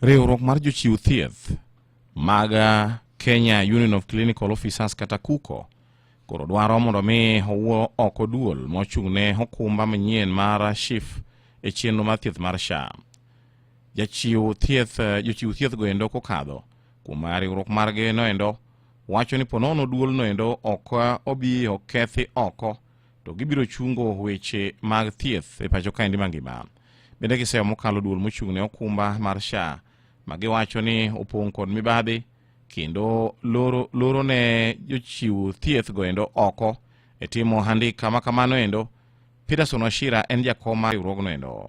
Riwruok mar jochiw thieth mag uh, Kenya Union of Clinical Officers kata KUCO koro dwaro mondo mi owuo oko duol mochung' ne okumba manyien mar SHIF e chenro mar thieth mar SHA. Jachiw thieth uh, jochiw thieth goendo kokadho kuom riwruok margi noendo wacho ni ponono duol noendo ok uh, obi okethi oko to gibiro chungo weche mag thieth e pacho kaendi mangima. Bende giseyo mokalo duol mochung' ne okumba mar SHA ma giwacho ni opong' kod mibadhi kendo loro, loro ne jochiw thieth goendo oko e timo handika ma kamano endo. Peterson Washira en jakom mar riwruogno endo.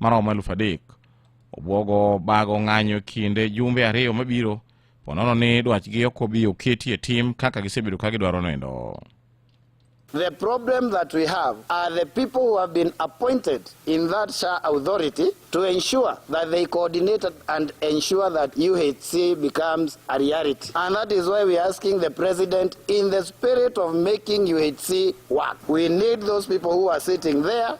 maromo eluf adek obwogo bago ng'anyo kinde jumbe ariyo mabiro ponono ni dwachgi ok obi oketi e tim kaka gisebedo ka gidwaro nindo The problem that we have are the people who have been appointed in that SHA authority to ensure that they coordinate and ensure that UHC becomes a reality. And that is why we are asking the president, in the spirit of making UHC work, we need those people who are sitting there